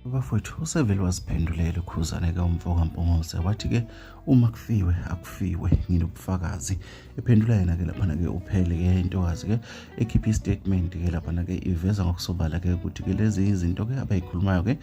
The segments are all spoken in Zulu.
Bafowethu usevele waziphendulela ukhuzane-ke umfoka Mpungose wathi-ke uma kufiwe akufiwe nginobufakazi ephendula yena-ke laphana-ke uphele-ke intokazi-ke ekhipha istatement-ke laphana-ke iveza ngokusobala-ke ukuthi-ke lezi izinto-ke abayikhulumayo-ke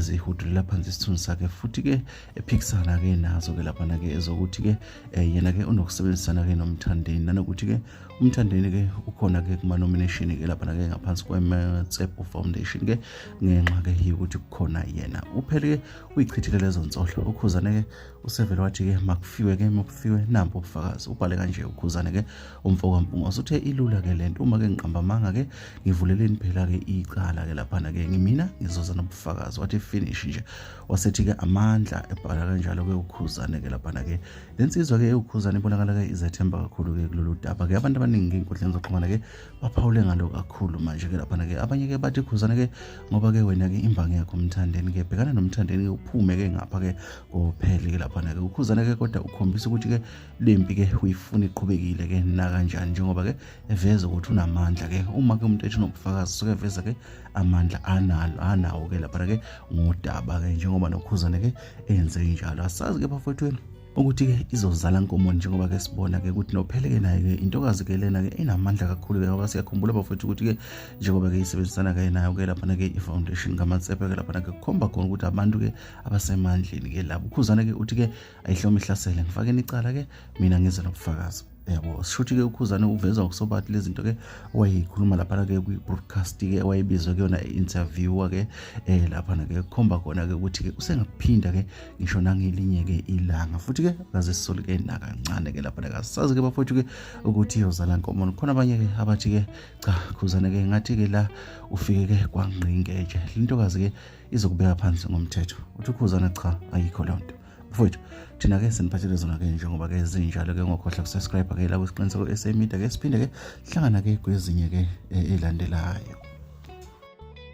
zihudulela phansi isithunzi sakhe futhi-ke ephikisana-ke nazo-ke laphana-ke ezokuthi-ke eh, yena-ke unokusebenzisana-ke nomthandeni nanokuthi-ke umthandeni ke ukhona ke kuma nomination ke lapha ke ngaphansi kwe Matsepo Foundation ke ngenxa ke yokuthi kukhona yena uphele ke uyichithile lezo nsolo ukhuzane ke usevele wathi ke makufiwe ke makufiwe nampo ubufakazi ubhale kanje ukhuzane ke umfo kaMpungoso uthe ilula ke lento uma ke ngiqamba manga ke ngivuleleni phela ke icala ke lapha ke ngimina ngizoza nobufakazi wathi finish nje wasethi ke amandla ebhala kanjalo ke ukhuzane ke lapha ke le nsizwa-ke ewukhuzane ibonakala-ke izethemba kakhulu-ke kulolu daba-ke abantu abaningi-ke ey'nkundleni zokuxhumana-ke baphawule ngalo kakhulu manje-ke laphana-ke abanye-ke bathi khuzane-ke ngoba-ke wena-ke imbangi yakho umthandeni-ke bhekana nomthandeni-ke uphume-ke ngapha-ke kophele-ke laphana-ke ukhuzane-ke kodwa ukhombisa ukuthi-ke le mpi-ke uyifuna iqhubekile-ke nakanjani njengoba-ke eveza ukuthi unamandla-ke uma-ke umuntu ethi unobufakazi suke eveza-ke amandla analo anawo-ke laphana-ke ngodaba-ke njengoba nokhuzane-ke enze njalo asazi-ke bafowethweni ukuthi-ke izozala nkomo njengoba ke sibona-ke ukuthi nophele-ke naye-ke intokazi-ke lena-ke inamandla kakhulu-ke ngoba siyakhumbula bafowethu ukuthi-ke njengoba-ke isebenzisana-ke nayo-ke laphana-ke i-foundation kamatsepe-ke laphana-ke kukhomba khona ukuthi abantu-ke abasemandleni-ke labo ukhuzana-ke uthi-ke ayihloma ihlasele ngifake nicala-ke mina ngize nobufakazi yabo sishuthi ke ukhuzane uveza ukusobati lezi zinto ke wayeyikhuluma laphana ke kwi-broadcast ke wayebizwa kuyona i-interviewer ke eh laphana ke kukhomba khona ke ukuthi ke usengaphinda ke ngisho nangelinye ke ilanga futhi ke kaze sisole ke nakancane ke laphana kasazi ke bafowethu ke ukuthi yozala nkomo khona abanye ke abathi ke cha khuzane ke ngathi ke la ufike ke kwangqingeje lintokazi ke izokubeka phansi ngomthetho uthi ukhuzane cha ayikho loo nto mfowethu thina ke siniphathele zona ke njengoba ke zinjalo ke ngokhohla kusubscribe ke la kwisiqiniseko SA Media ke siphinde ke sihlangana ke kwezinye ke elandelayo